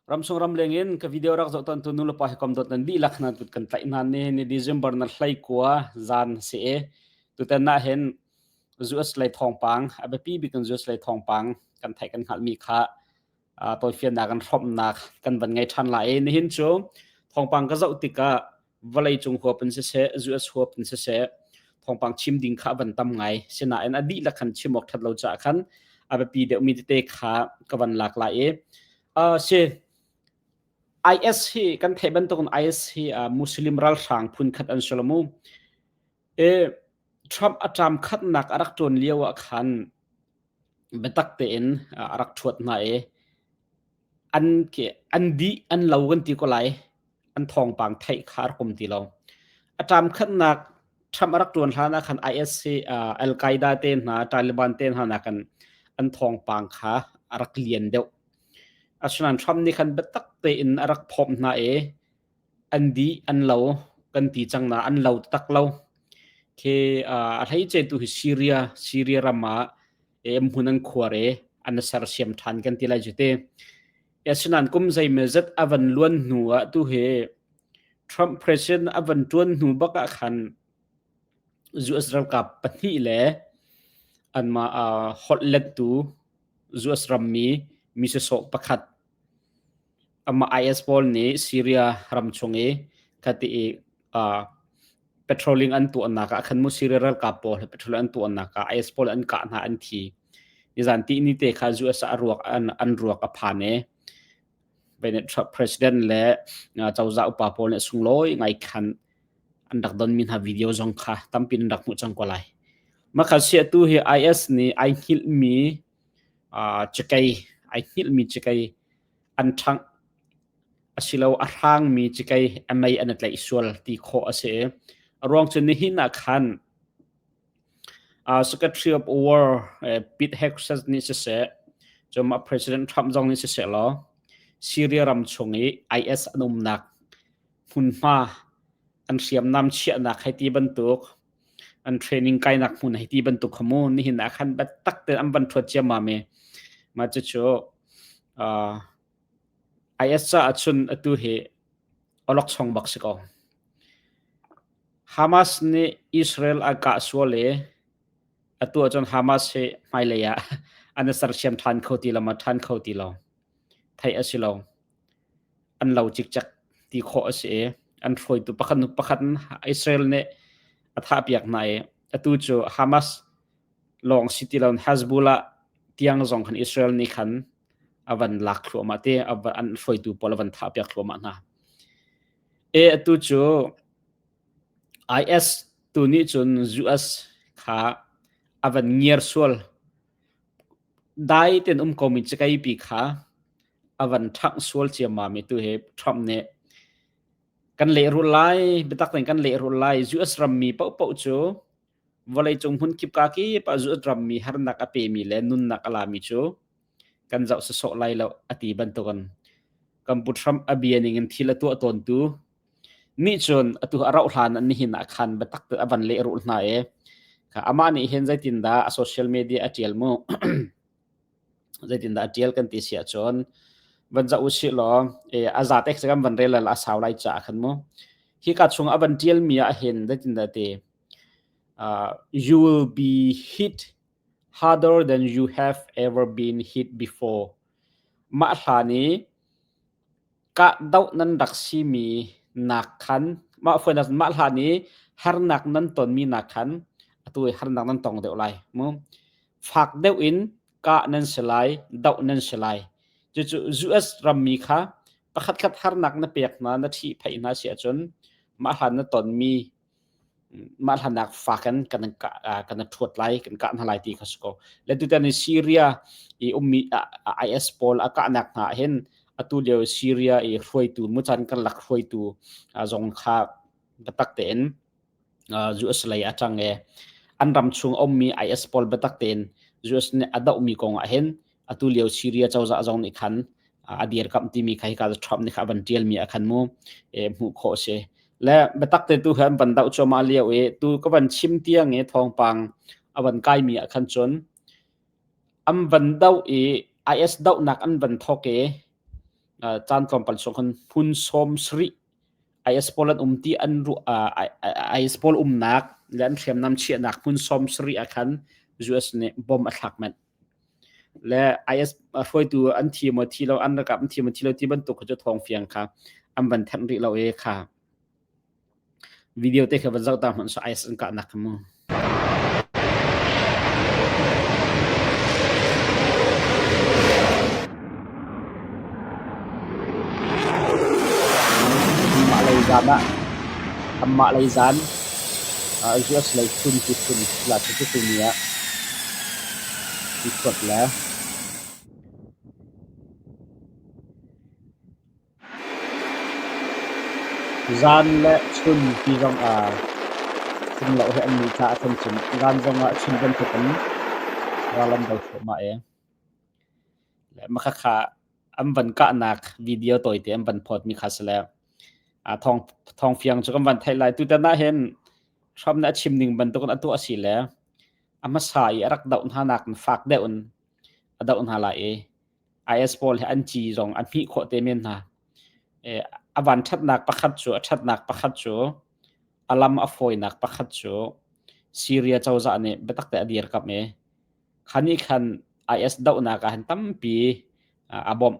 Ramsung ramleng in ka video rak zoh ton tu nu le pa hi kom dot nan lih lak na tut kan tlaih nan ni ni December na hlei kua zan si e tu ten na hen US lei thong pang a biapi bik kan US lei thong pang kan thai kan hal mi kha toy fian na kan hrom nak kan van ngai than la e ni hin chu thong pang ka zoh tikah vawleicung huap in siseh US huap in siseh thawngpang chim ding kha van tam ngai sinain a dihlak khan chim awk that lo caah khan a biapi deuhmi tete kha ka van lak lai i uh, si IS hi kan thei bantukin IS hi uh, Muslim ralhrang phun khat an sulamu e Trump atram khatnak arak tuan lio ah khan biatak tein a rak thuat hna e an ke an dih an lo kan ti ko lai an thawngpang theih kha a kum ti lo a tam khatnak Trump a rak tuan hlan ah khan IS uh, Al Qaeda te hna Taliban te hna na kan an thawngpang kha a rak lian deuh asnan Trump ni khan betak te in a rak phom hna e an di an lo kan ti chang na an lo tak lo ke a hlei che tu hi Syria Syria rama em hun an khuare an sersiam than kan ti lai cu te asinan kum zei me zat avan luan hnu a tu he Trump president avan tuan hnu baka khan US ralkap pahnih le anma a hotlet tu US ram mi mi se so pakhat Amah IS pawl nih Syria ram chung i khati i uh, petroling an tuahnak ah khan mu Syria ralkap pawl he petrol an tuahnak ah IS pawl an kah hna an thi. Nizan ti ni te khan US a ruak an, an ruak a phan e. Bennett Trump president le uh, cozah upa pawl nih sunglawi ngai khan an rak don mi hna video zong kha tampin rak mu cang ko lai. Makha sia tu hi IS nih ai hngilh mi Cikei ai hngilhmi cikei an ṭhangh asilo a hrangmi cikei a mei an i tlaih sual ti khawh a si i a ruang cu nihin ah khan Secretary of War Pete Hegseth nih siseh cumah President Trump zong nih siseh law Syria ram chung i IS an umnak hmunhma an hriamnam chiahnak hei ti bantuk an training kainak hmun hei ti bantuk kha mu nihin ah khan biatak ten an van thuat ciammam e ma cu cu uh, IS ca achun atu hi olok song bak si ko Hamas nih Israel a ka suale atu achon Hamas he hmailei ah an ser siam than kho ti lo ma than kho ti lo thei asilo an lo cikcek ti khawh a si i an hruaitu pakhat nu pakhat Israel nih a thahpiak hna i atu cu Hamas lawng si ti loin Hezbollah tiang zong khan Israel nih khan a van lak thluahmah ti an hruaitu pawl a van thahpiak thluahmah hna e atu cu IS tu nih cun US kha a van ngiar sual Dai tein um komi cikaipi kha a van ṭhangh sual ciammam i tuhe Trump nih kan lehrul lai, biatak tein kan lehrul lai. US rammi paohpaoh cu vawleicung hmunkip kakip ah US rammi harnak a pemi le nunnak a lami cu kan zoh sawsawh lai lo a ti bantukin kan pu Trump a bia ningin thil a tuah tawntu Mi cun atu a rauh hlan ah nihin ah khan biatak a van lehrulh hna i amah nih hin zeitindah a social media a ṭial mu zeitindah a ṭial kan ti si ahcun van za u si law a zatek se kan van relal a sau lai caah khan mu hi ka chung a van ṭial mi ah hin zeitindah te you will be hit harder than you have ever been hit before mah hlan i Kahdoh nan rak simi nak khan mah fawinak mah hlan i harnak nan tonmi nak khan atu i harnak nan tong deuh lai. Mu fak deuh in kah nan si lai, doh nan si lai. Cucu US rammi kha pakhatkhat harnak na pek hna, na ṭhihphaih hna si ahcun mah hlan na tonmi mah hlannak fa kan kan kan thuat lai kan kah hna lai ti kha si ko le tutan in syria i ummi is pawl a kahnak hna hin atu lio syria i hruaitu muchan kan lak hruaitu zong kha batak tein US lei a chang e an ram chung ummi is pawl batak tein US nih a dohmi kong ah hin atu lio Syria cozah zong nih khan a dirkamh timi kha hika Trump nih kha a van tialmi a khan mu hmuh khawh a si le biatak te tu khan van doh choma lio i tu ka van chim tiang i thawngpang a van kaimi a khan cun an van doh i IS dohnak an van thawk i caan tlawmpal sung khan hun som sri IS pawl an um ti an ru IS pawl umnak le an hriamnam chiahnak hmun som sri a khan US nih bom a thlak mat le IS hruaitu an thi maw thi lo an rakap an thi maw thi lo ti bantuk kha cu thawng fiang kha an van thanh rih lo e kha video te kha van zoh ta hman so IS an kah nak kha mu Ammahlei zan US lei phun tiphun la cucu ni ah i thuat le zan le chun ti zongah fumloh he an ni thla a thlen cun Iran zongah Chin bantukin ral an do thluahmah ee. le makhakha an van kahnak video tawite an van phawt mi kha si le a thong thong fiang cu kan van thai lai tu tan ah hin hram na chim ning bantukin atu asi le ama sa i arak doh hna nak in fak deuh in a doh hna lai i IS pawl he an ci zong an hmih khawh te men hna e a van thatnak pakhat cu a thatnak pakhat cu alam a fawinak pakhat cu Syria cozah nih biatak te a dir kap e kha nih khan IS dohnak ah han tampi a bawmh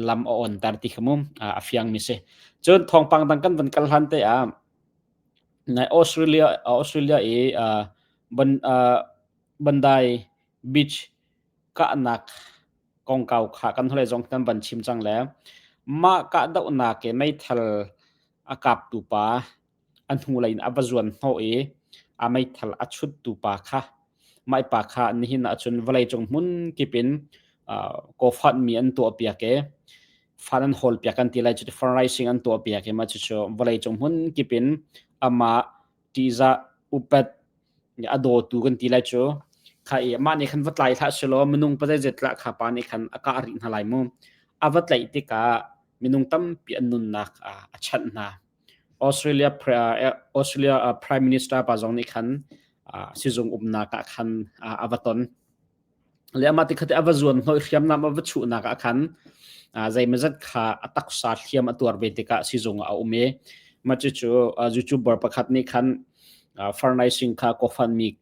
lam a on tar ti khamum a fiang mi si cun thawngpang dang kan van kal hlan te ah Australia Australia i bandai beach kahnak kongkau kha kan hole zong kan van chim cang le mah kah dohnak ke meithal a kap tu pa a hnulei in a va zuan hnawh i a meithal a chuttu pa kha maipa kha nihin ah cun vawleicung hmun kip in uh, ko mi an tuahpiak i fan an hawlpiak an ti lai cu fundraising an tuahpiak i ma cu vawleicung hmun kip in ama tiza upet a dawtu kan ti lai cu kha i ma nih khan va tlai thla si lo minung pa zai zetla kha pa nih khan aka ri hna lai mu a va tlaih tikah minung tampi an nunnak a chanh hna Australia Prime Minister pa zong nih khan sizung umnak ah khan a va ton. Le amah tikhat i a va zuan hnawih hriamnam a va chuhnak ah khan zeimazat kha a taksa hliam a tuar ve tikah sizung ah a um i mah cucu zucubor pakhat nih khan furnaising kha ko fanmi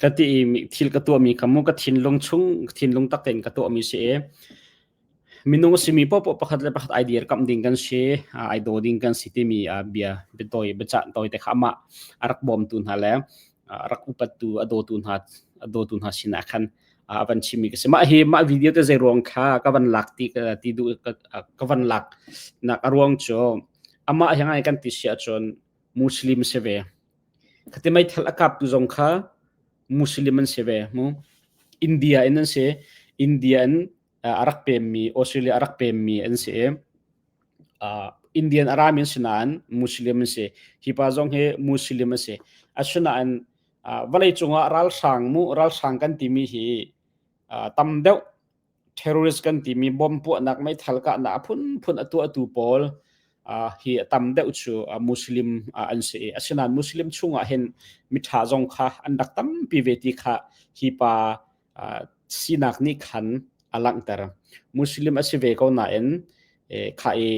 Ka ti i thil ka tuahmi kha mu ka thinlung chung thinlung tak tein ka tuahmi si i minung a simi poahpoah pakhat le pakhat idea kamh ding kan si, uh, i do ding kan si timi uh, bia biatawi biacah tawi te kha amah a rak bawmtu hna le uh, rak upattu a dawtu hna a dawtu hna sinah khan uh, a van chimmi ka si. Mah hi mah video te zei ruang kha ka van lak ti ka ti duh ka, uh, ka van lak nak a ruang cu amah hi ngai kan ti sia cun Muslim si ve Khati meithal a kaptu zong kha Muslim an si ve mu. India in an si. India in a rak pemmi, Australia a rak pemmi an si i, Indian a rami an si nain Muslim an si. Hi pa zong hi Muslim a si. Asinain vawleicung ah ralhrang mu, ralhrang kan timi hi tam deuh terrorist kan timi bom puahnak meithal kahnak a phunphun a tuahtu pawl uh, hi a tam deuh cu uh, muslim uh, an si asinain muslim chungah hin mitha zong kha an rak tampi ve ti kha hi pa uh, sinak nih khan a langhter muslim a si ve ko nain eh, kha i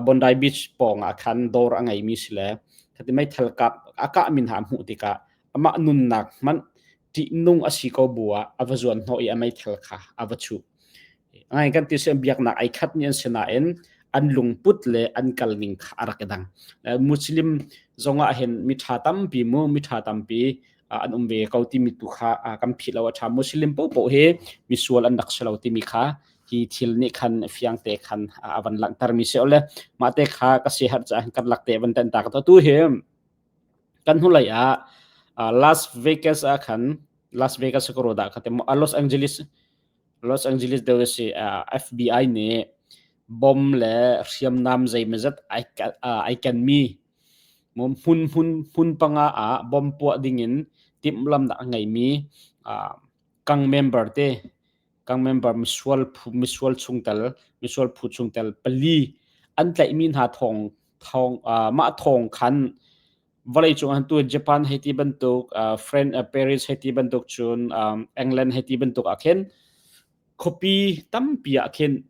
Bondi Beach pawng ah khan dawr a ngeimi si le thati meithal kap a kah min ha hmuh tikah amah nunnak hmanh ṭihnung a si ko bu ah a va zuan hnawh i a meithal kha a va chuh. Ngai kan ti si biaknak ai khat ni an si nain an lungput le an kalning kha a rak i dang. Muslim zong ah hin miṭha tampi mu miṭha tampi an um ve ko timi tu kha kan philh lo a ṭha. Muslim popoh hi misual an rak si lo timi kha hi thil nih khan fiang te khan a van langhter mi si ole mah te kha ka si har cha kan lak te van ten ta ka to tu hi kan hnulei ah uh, Las Vegas ah khan Las Vegas ka roda kha te uh, Los Angeles Los Angeles de si uh, FBI nih bom le hriamnam zeimazat ai uh, ai ken mi hmun hmun hmun panga ah bom puah ding in timh lam nak ngai mi uh, kang member te kan member misual phu misual chungtel misual phu chungtel pali an tlaihmi hna thawng thawng uh, mah thawng khan vawlei cung han tu Japan hei ti bantuk uh, France uh, Paris hei ti bantuk cun um, England hei ti bantuk a khin copy tampi a khin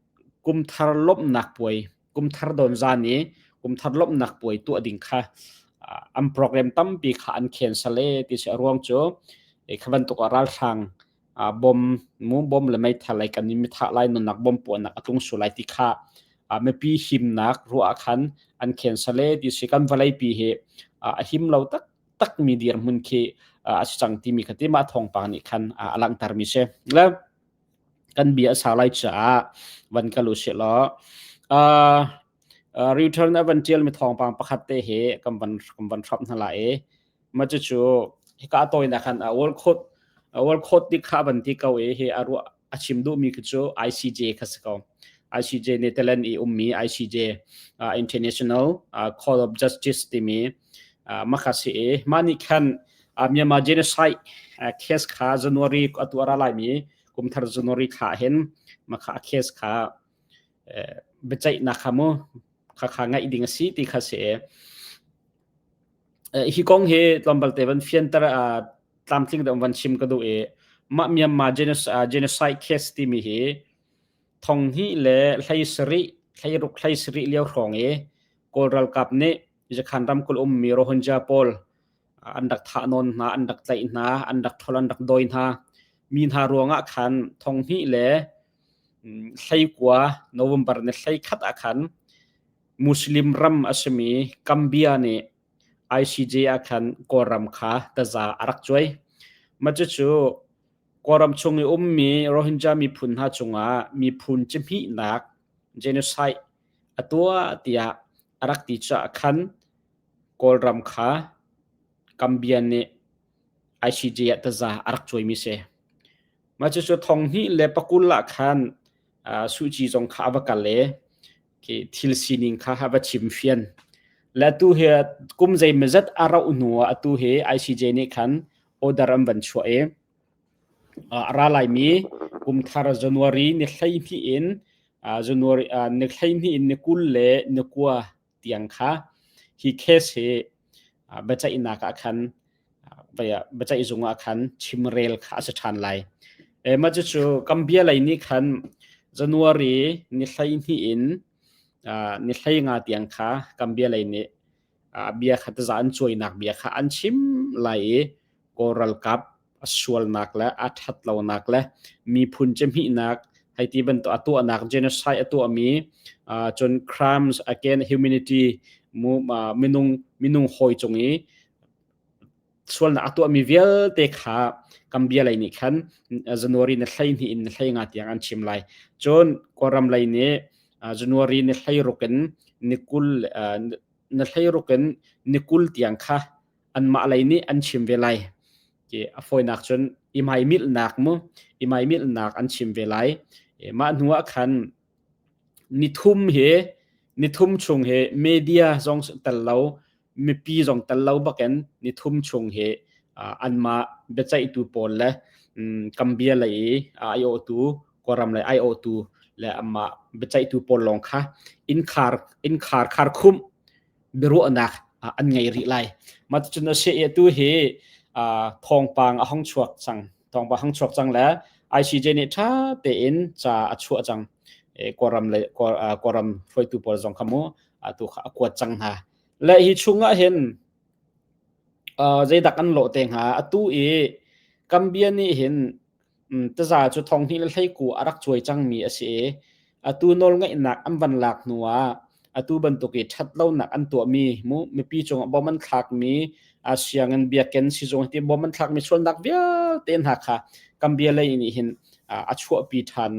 kumthar lomnak puai kumthar don zani kumthar lomnak puai tu ading kha uh, an program tampi kha an cancel e ti se ruang cu e khaban tuk ral sang uh, bom mu bom le meithal lai kan in mithah lai nunnak bom puanak a tlung su lai ti kha uh, mipi himnak ruah khan an khen sale ti si kan valei pi he uh, a him lo tak tak mi dir mun khi uh, a cang ti mi khati ma thong pa ni khan uh, alang tar mi se le kan bia sa lai cha van ka lu se lo uh, uh, return eventual mi thong pang pakhat te he kam van kam van thap na la e ma cu cu hika toina khan a ol khot a ol khot ti kha ban ti ko e hi a ru a chim du mi khi cu ICJ kha si ko ICJ Netherlands i ummi ICJ uh, International uh, Court of Justice timi uh, makhasi e mani khan uh, Myanmar genocide uh, case kha January atu ara lai mi kumthar January kha hen makha case kha bechai na khamu kha kha ngai ding si ti kha se hi kong hi tlawmbalte van fianter uh, tlamtling deuh van chim ka duh i mah Myanmar genocide case timi hi thong hi le hlei sari hlei ruk hlei sari lio hrong i kawl ralkap nih jakhan ram kul um mi rohunja pawl an rak thah non hna an rak tlaih hna an rak thol an rak doi hna mi hna ruangah khan thong hi le Hleikua November ni hleikhat ah khan Muslim ram a simi Gambia nih ICJ ah khan Kawlram kha taza a rak cuai. Mah cucu Kawlram chung i ummi Rohingya miphun hna cungah miphun cihmihnak genocide a tuah tiah a rak ti caah khan Kawlram kha Gambia nih ICJ ah taza a rak cuaimi si. Mah cucu thong hnih le pakul ah khan uh, suci zong kha a va kal i ki thil sining kha a va chim fian. Le tu hi kum zei mazat a rauh hnu ah atu hi ICJ nih khan order an van chuah i uh, ra laimi kum thar January ni hlei hnih in uh, January uh, ni hlei hnih in ni kul le ni kua tiang kha hi case hi biaceihnak ah khan biaceihzung ah khan chimrel kha a si ṭhan lai ema cucu kambia lei nih khan january ni hlei hnih in ni hlei nga tiang kha kambia lei nih bia kha taza an cuainak bia kha an chim lai i kawlralkap a sualnak le a ṭhat lonak le miphun cemihnak hei ti bantuk a tuahnak genocide a tuahmi uh, cun crimes against humanity mu, uh, minung minung hoi cung i sualnak a tuahmi vialte kha kambia lei nih khan january na hlei ni in na hlei nga tiang an chim lai cun kawram lei nih january ni hlei rukin nikul na hlei rukin nikul tiang kha anmah lei nih an chim ve lai ke a fawinak cun i maimilhnak mu i maimilhnak an chim ve lai mah hnu ah khan nithum hi nithum chung hi media zong tel lo mipi zong tel lo bakin nithum chung hi anmah biaceihtu pawl le Gambia lei i aotu Kawram lei aotu le amma biaceihtu pawl lawng kha in khar in khar khar khum biaruahnak an ngei rih lai. Mah ticun a seh tu hi thawngpang a hong chuak cang. Thawngpang hong chuak cang le ICJ nih ṭha tein ca a chuah cang. Kawlram le Kawlram hruaitu pawl zong kha mu tu kha a kuat cang hna. Le hi chung ah hin zeidak an lawh te hnga atu i Gambia nih hin taza cu thonghnih le hleikuu a rak cuai cangmi a si i atu nawlngeihnak an van lak hnu ah atu bantuk i ṭhatlonak an tuahmi mu mipi cungah bom an thlakmi sianginn biakinn sizung hiti bom an thlakmi sualnak vialte hna kha Gambia lei nih hin a chuahpi ṭhan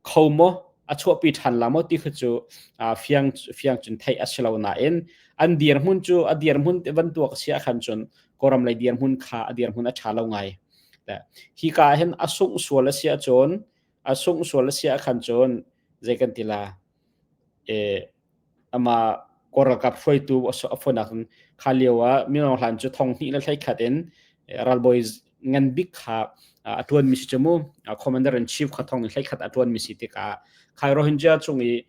kho maw a chuahpi ṭhan la maw ti kha cu fiang fiang cun theih a si lo nain an dirhmun cu a dirhmun bantuk a si ahkhan cun kawram lei dirhmun kha a dirhmun a ṭha lo ngai hi ka hin a sungh sual a si ahcun a sungh sual a si ahkhan cun zei kan ti la e amah kawr ralkap hruaitu a fawn ahcun kha lio ah mino hlan cu thong hnih le hlei khat in ralbawi ngan bik kha a ṭuanmi si cu mu commander in chief kha thong in hlei khat a ṭuanmi si tikah khai rohingya cung i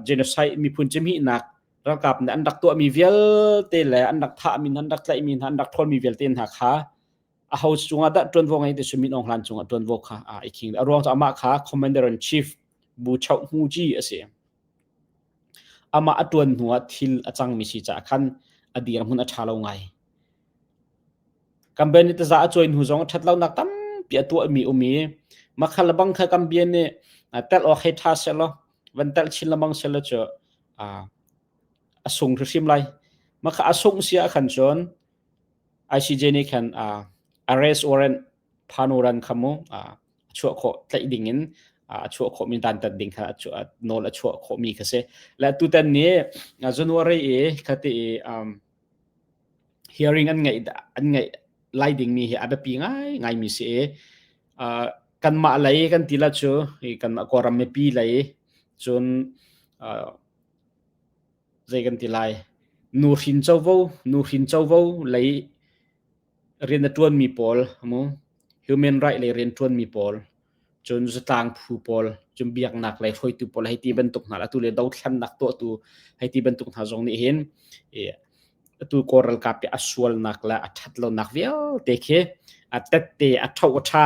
genocide miphun cimihnak ralkap nih an rak tuahmi vialte le an rak thahmi an rak tlaihmi hna an rak ṭhawlmi vialte hna kha a house cungah dah ṭuanvo ngei ti cu min aung hlan cungah ṭuanvo kha a iking a ruang cu amah kha commander in chief bu choh hnu ci a si. Amah a ṭuan hnu ah thil a cangmi si caah khan a dirhmun a ṭha lo ngai. Kan bian nih taza a cuai hnu zong ṭhatlonak tampi a tuahmi um i makhal le bang kha kan bian nih tel awk hei ṭha selaw van tel chin le mang selaw cu a sung hrimhrim lai. Makha a sung si ah khan cun ICJ nih khan arrest warrant phan uran kha mu a chuah khawh tlaih ding in a chuah khawhmi dantat ding kha nawl a chuah khawhmi ka si la tutan ni january i khati i hearing an ngeih an ngeih lai ding mi hi a biapi ngai ngai mi si kan mah lei kan ti la chu kan mah koram me pi lei cun zei kan ti lai nu hrin chovo nu hrin chovo lei rian a ṭuanmi pawl a mu human right lei rian ṭuanmi pawl cun zatlang phu pawl cun biaknak lei hruaitu pawl hei ti bantuk hna atu le dothlannak tuahtu hei ti bantuk hna zong nih hin atu kaw ralkap i a sualnak le a ṭhat lonak vialte khi a tette a ṭho a ṭha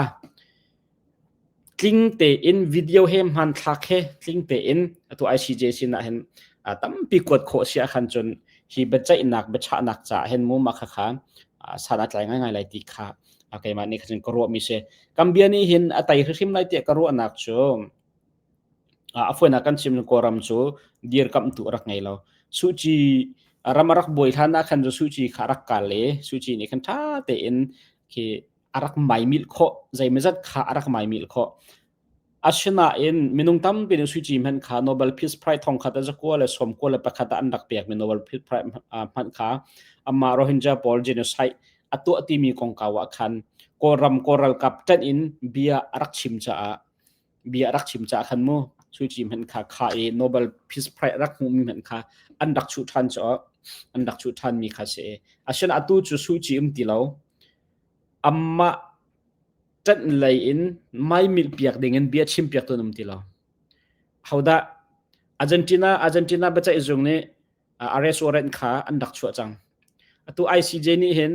tling tein video he hmanthlak he tling tein atu ICJ sin ah hin tampi kuat khawh si ahkhan cun hi biaceihnak biachahnak ca hin mu ma khakha san a tlai ngai lai ti kha keimah nih khin ka ruah mi si kan bia nih hin a tai hrim lai tiah ka ruahnak cu a fuena kan chim kawram cu dir kam tu rak ngei lo suchi ram rak buai hlan ahkhan cu suchi kha rak kal le suchi nih khan tha tein khi a rak maimilh khawh zeimazat kha a rak maimilh khawh asinain minung tampi nih suici hmanh kha Nobel Peace Prize thong khat zakua le sawmkua le pakhat ah an rak pekmi Nobel Peace Prize hmanh kha amma Rohingya pawl genocide a tuah timi kongkau ah khan Kawlram Kawl ralkap ṭanh in bia a rak chim caah bia rak chim ca khan mu su chi hman kha kha i nobel peace prize rak hmu mi hman kha an dak chu than cho an dak chu than mi kha se ashan atu chu su chi um ti lo amma tan lei in mai mil piak ding in bia chim piak tunum ti lo hauda argentina argentina bacha izung ni arrest warrant kha an dak chua chang atu icj ni hin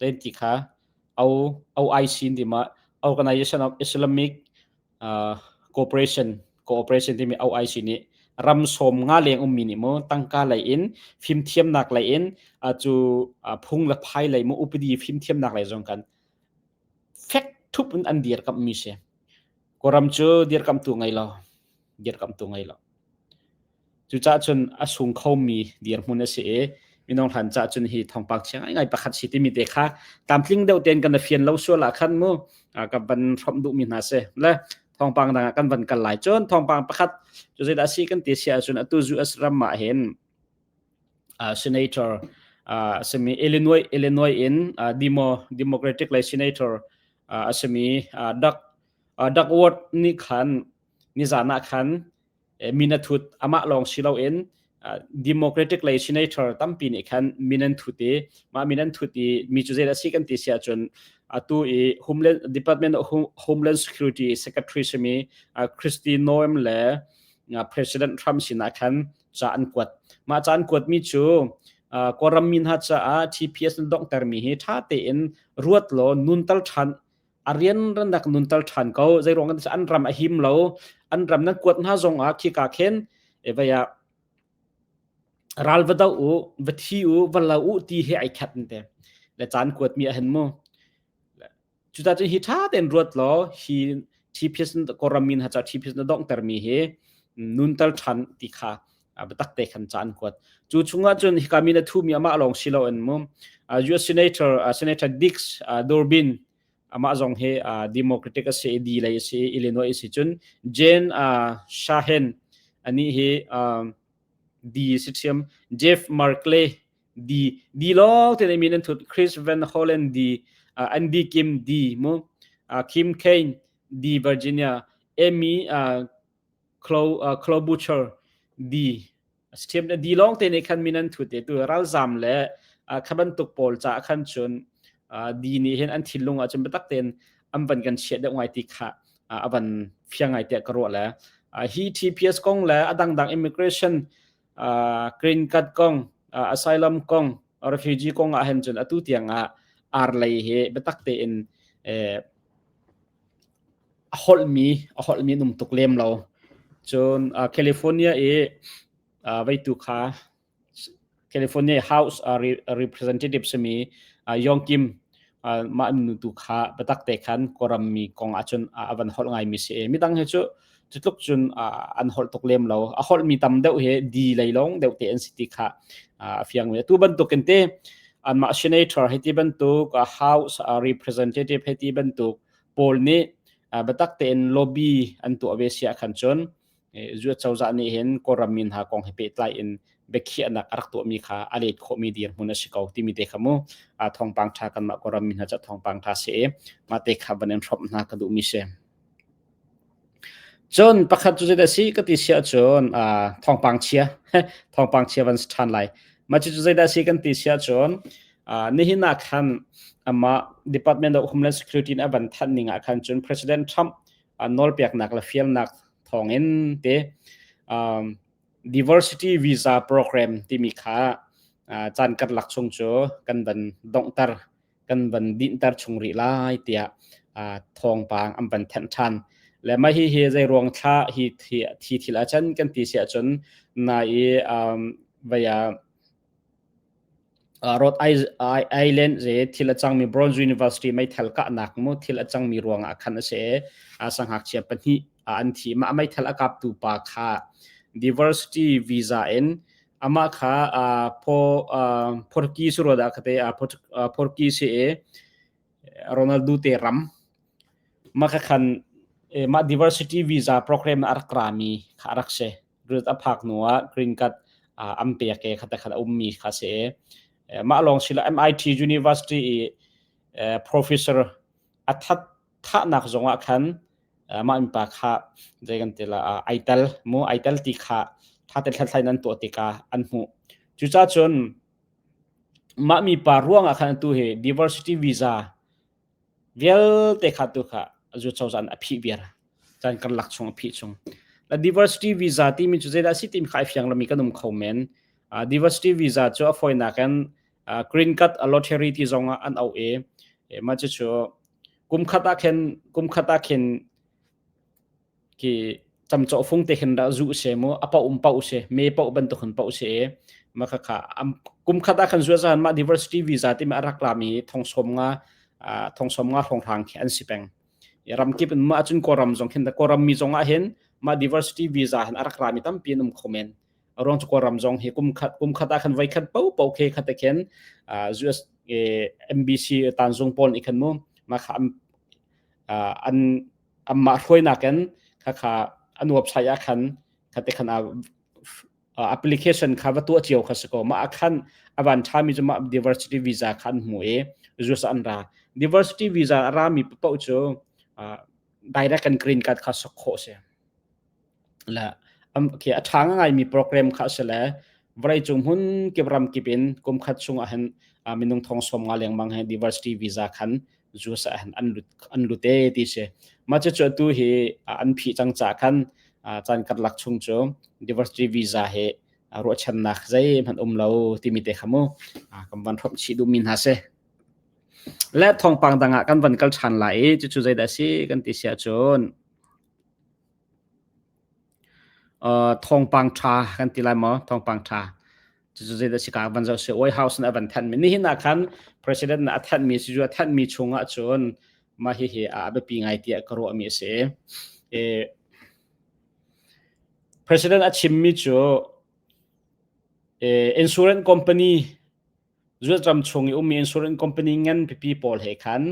Len ti kha OIC ti ma Organization of Islamic uh, Cooperation Cooperation timi OIC nih ram som nga leng ummi nih mo tangka lei in fim thiamnak lei in cu phung le phai lei mo upadi fim thiamnak lei zong kan fek thup in an dir kam mi se koram cu dir kam tu ngai lo dir kam tu ngai lo Cucah cun a sung khomi dirhmun a si i minung hlan cah cun hi thongpak chia ngai pakhat si timi te kha tlamtling deuh tein kan fian lo sual ah khan mu kan van hrom duhmi hna si le thongpang dang ah kan van kal lai cun thongpang pakhat cu zeidah a si kan ti sia cun atu zu asram ah hin senator a simi Illinois Illinois in demo democratic le senator a simi Doug Doug Ward nih khan nizan ah khan min a thut amah lawng si loin democratic lei senator tampi nih khan min an thut i mah min an thut i mi cu zeidah si kan ti si ahcun atu i homeland department of homeland security secretary simi Kristi Noem le president Trump sinah khan ca an kuat mah ca an kuatmi cu kawlram mi hna caah TPS na donghtermi hi ṭha tein ruat law nuntal ṭhan a rian rannak nunter ṭhan ko zeiruang kan an ram a him lo an ram nan kuat hna zong ah khika khen e vaya ral va do u va thi u va lo u ti he ai khat te le chan kuat mi a hen mu cu ta chu hi tha ten ruat lo hi TPS koramin ha cha TPS na dong ter mi hi nun tal than ti kha biatak te khan cha an kuat chu chungah cun hika mi na thu mi amah lawng si lo in mu US senator senator Dix Durbin amah zong he democratic ase di lei ase Illinois ase cun Jen Shahen ani hi di si chiam Jeff Markley di di lo te nei mi nan thut Chris Van Hollen di Andy Kim di mu Kim Kane di Virginia Amy Clo Butcher di a si ṭhiam. Di lawngte nih khan min an thut i tu ralzam le kha bantuk pawl caah khan cun di nih hin an thinlung ah cun biatak tein an van kan chiah deuh ngai ti kha a van fiang ngai tiah ka ruah le. Hi TPS kong le a dangdang immigration green card kong asylum kong refugee kong ah hin cun atu tiang ah ar lei hi biatak tein a holhmi a holhmi num tuk lem lo cun california i veitu kha california house representative simi yongkim mah an nu tu kha biatak te khan kawram mi kong ah cun a van holh ngai mi si e midang hi cu cutluk cun an holh tuk lem lo a holh mi tam deuh hi di lei lawng deuh te an si ti kha a fiang ve tu bantuk in te anmah senator hi ti bantuk house representative hi ti bantuk paul nih biatak tein lobby an tuah ve sia khan cun Zuat cozah nih hin Kawlram mi hna kong he pehtlai in biakhiahnak a rak tuahmi kha a let khawhmi dirhmun a si ko timi te kha mu a thawngpang ṭha kanmah Kawlram mi hna cu thawngpang ṭha si e mah te kha van in hrawm hna ka duhmi si. Cun pakhat cu zeidah si ka ti sia cun thawngpang chia thawngpang chia van si ṭhan lai. Mah cu zeidah si kan ti sia cun nihin ah khan amah Department of Homeland Security in a van thanh ning ah khan cun President Trump nawlpeknak le fialnak thawngin te diversity visa program timi kha caan kan lak chung cu kan van donghter kan van dinhter chung rih lai tiah thawngpang an van thenh ṭhan le mah hi hi zei ruang thla hi thi thil ah chan kan ti si ahcun na i vaya Rhode Island ze thil a cangmi Bronze University meithal kahnak mu thil a cangmi ruangah khan a si i sangakchia pahnih an thi. Mah meithal a kaptu pa kha diversity visa in amah kha Portuguese rua dah kate Portuguese i Ronaldo te ram maka khan mah diversity visa program a rak rami kha a rak si green a phak hnu ah green card an pek i khata khan a ummi kha si mah lawng si lo MIT University i professor a that thahnak zong ah khan mah mipa kha zei kan ti la ai tel mu ai tel ti kha thatet hlathlai nan tuah tikah an hmuh cucacun Mah mipa ruangah khan atu hi diversity visa vialte kha tu kha zu cozah nih a phih viar. Caan kan lak chung a phih chung. La diversity visa timi cu zeidah a si timi kha ai fiang lomi kan um kho men. Uh, diversity visa cu a fawinak in uh, green card a lottery ti zongah an auh i e, mah cu cu kum khat ah khin kum khat ah khin ki camcawh fung te khin dah zu se mu apa um pa use me pa bantuk hin pa use e ma kha kha am kum khat ah khan zuwa zan ma diversity visa ti ma arak la mi thongsom nga thongsom nga phong thang khi an si peng ram kip in ma achun koram zong khin da koram mi zong ah hin ma diversity visa hin arak ra mi tampi an um khomen rong chu koram zong hi kum khat kum khat ah khan vai khat po po khe khat khen US MBC tan zung pol ikhan mu ma kha an Amah hruainak in khakha an website ah khan khate khan a application kha va tuah cio kha si ko mah ah khan a van ṭhami cu mah diversity visa kha an hmu i US an ra diversity visa a rami paoh cu direct and green card kha sak khawh a si. le a ṭha ngaimi program kha a si le vawleicung hmun kip ram kip in kumkhat chung ahhin minung thong sawm nga lengmang he diversity visa khan US ah an lut an lut e ti si mah cucu atu hi an phih cang ca khan caan karlak chung cu diversity visa he ruahchannak zeihmanh um lo timi te kha mu kan van hrop chih duhmi hna si le thawngpang dang ah kan van kal ṭhan lai i cucu zeidah a si kan ti sia cun thawngpang ṭha kan ti lai maw? Thawngpang ṭha. Cucu zeidah a si kaa van zoh sih. White House nih a van thanhmi. Nihin ah khan President nih a thanhmi cu a thanhmi chung ah cun mah hihi a biapi ngai tiah ka ruahmi a si. President a chimmi cu insurance company Zultram chung i ummi insurance company ngan pipi pawl he khan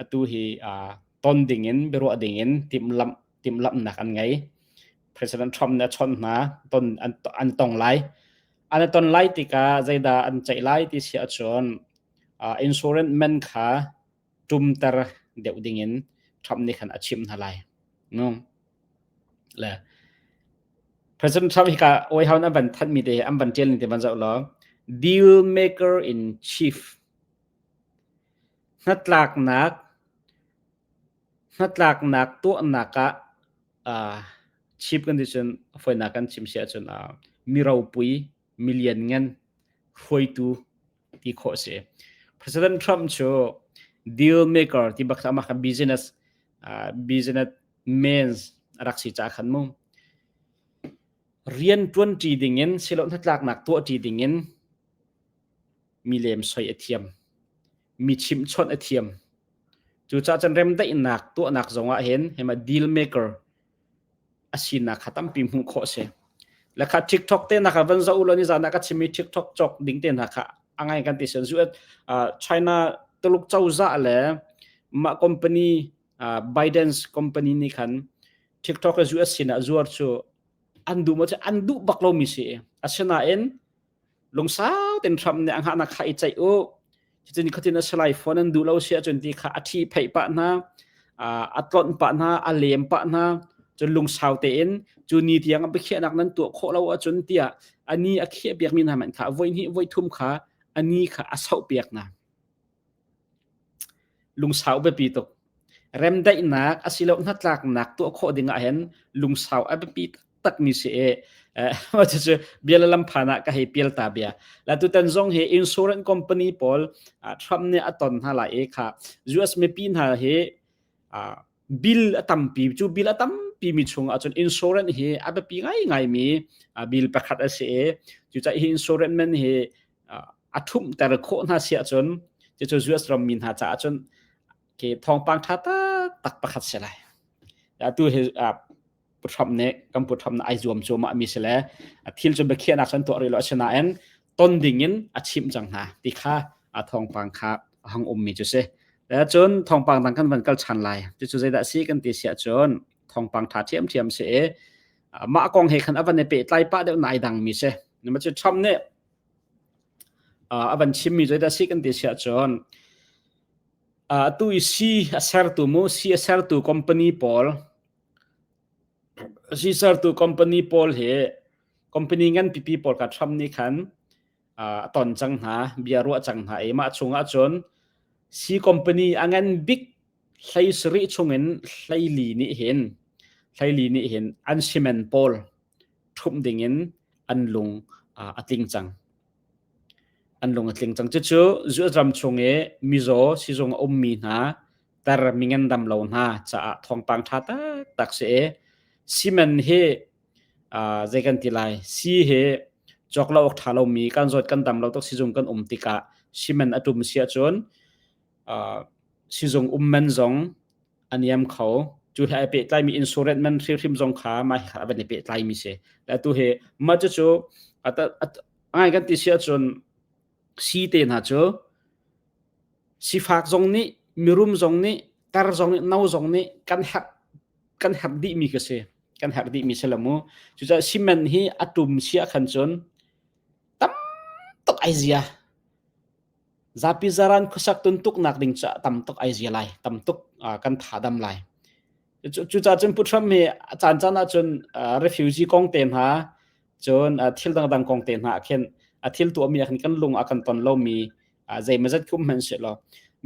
atu hi uh, ton dingin biaruah dingin timlamh timlamhnak an ngei. President Trump nih a chawnh hna ton an an tong lai. An a ton lai tikah zeidah an ceih lai ti si ahcun uh, insurance man kha tumter deuh dingin Trump nih khan a chimh hna lai. No. Le President Trump hika oi haun an van thanh mi te an van tial ni te ban zau lo deal maker in chief hnatlaknak hnatlaknak tuahnak ah uh, chief condition foina kan chim sia chun uh, miropui million ngan hruaitu ti khawh a si. President Trump cu deal maker ti bak amah kha business uh, business means a rak si ca khan mu rian tuan ṭi dingin silo hnatlaknak tuah ṭi dingin mi lem soi a thiam mi chim chawnh a thiam cu ca can rem daihnak tuahnak zongah hin hema deal maker a sinak kha tampi hmuh khawh a si. Le kha TikTok te hna kha van zoh u law nizan ah ka chimmi TikTok cawk ding te hna kha a ngai kan ti sen zu China Tuluk cozah le mah company Bidens company nih khan TikTok a zu a sinah zuar cu an duh mo an duh bak lomi si asinain lungsau ten hram ne ang ha na khai chai u chin khatin asalai phone an du lo sia chun ti kha athi phei pa na atlon pa na alem pa na chun lungsau te in chu ni tiang abikhe nak nan tu kho lo a chun tia ani akhe piak mi na man kha voi ni voi thum kha ani kha asau piak na Lungsau biapi tuk. Remdaihnak asiloah hnatlaknak tuah khawh ding ahhin lungsau a biapi taktakmi si i cucu bia le lam phan ah ka hei pial ta bia. La tutan zong hi insurance company pawl Trump nih a ton hna lai i kha US mipi hna hi bill a tampi cu bill a tampi mi chung ahcun insurance hi a biapi ngai ngai mi bill pakhat a si i cucah hi insurance man hi a thumter khawh hna si ahcun cucu US ram mi hna caah cun ke thawngpang tha tak tak pakhat si lai tu hi puthram nih kan puthram na ai zuam cu ma mi sile thil cu biakhiahnak san tuah rih lo asinain ton dingin a chimh cang hna ti kha a thawngpang kha hang um mi cu si cun thawngpang dang kan van kal chan lai cu zeidah si kan ti sia cun thawngpang tha thiam thiam si mah kong he khan avan ne pe tlai pa deuh nai dang mi se nima chu tham ne avan chim mi zeidah si kan ti sia cun tu si a sertu mu si a sertu company pawl Sisertu company pawl hi company ngan pipi pawl ka Trump nih khan a ton cang hna, bia ruah cang hna i mah chungah cun si company a ngan bik hlei sarih chungin hleili nih hin hleili nih hin an simen pawl ṭhumh dingin an lung a tling cang. An lung a tling cang. Cucu zuazam chung i mizaw sizung a ummi hna ter mingen dam lo hna caah thawngpang tha taktak si e simen hi uh, zei kan ti lai si hi chok lo tha lo mi kan zot kan dam lo tok sizung kan um tika simen atum sia chun uh, sizung ummen zong aniam kho chu hlai pe tlai mi insurance man hrim hrim zong kha mai kha ban pe tlai mi se la tu he ma chu chu ata ngai kan ti sia chun si te hna cu sifak zong nih mirum zong nih ter zong nih no zong nih kan herh kan herh dihmi ka si kan herh dihmi si lo mu cucaah cement hi a tum sia khan cun tam tuk ai zia zapi zaran khuasak tun tuknak ding ca tam tuk ai zia lai tam tuk kan thadam lai cucaah cun Pu Trump hi a caan caan ahcun refugee kong te hna cun thil dangdang kong te hna khin a thil tuahmi khan kan lung a kan ton lomi zeima zat kum hman selaw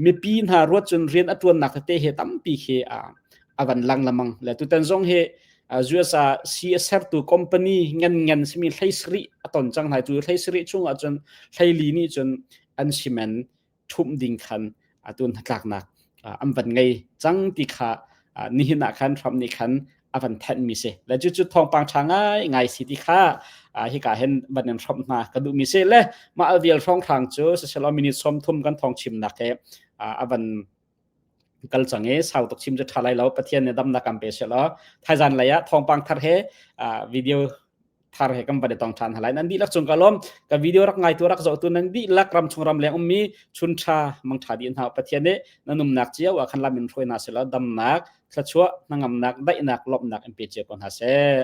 mipi hna ruat cun rian a tuannak te he tampi khi a van lang lamang le tutan zong he USA si a sertu company ngan ngan simi hleisri a ton cang lai tu hleisri chung ah cun hleili nih cun an simen ṭhumh ding khan atu hnatlaknak an van ngei cang ti kha nihin ah khan Trump nih khan a van thanhmi si le cucu thawngpang ṭha ngaingai si ti kha hika hin van in Trump hna ka duhmi si le mah vial hrawnghrang cu siselaw minute sawm thum kan thawng chimnak he a van kal cang i sau tuk chim cu ṭha lai lo Pathian nih damnak kan pe seh law thaizan lei ah thawngpang thar he video thar he kan van i tong ṭhan halai nan dihlak cung ka lawm ka video rak ngai tu rak zoh tu nan dihlak ram chung ram leng ummi chun ṭha mangṭha di hna Pathian nih na numnak cio ah khan lam in hruai na seh law damnak thlachuah hnangamnak daihnak lawmhnak in pe cia ko hna seh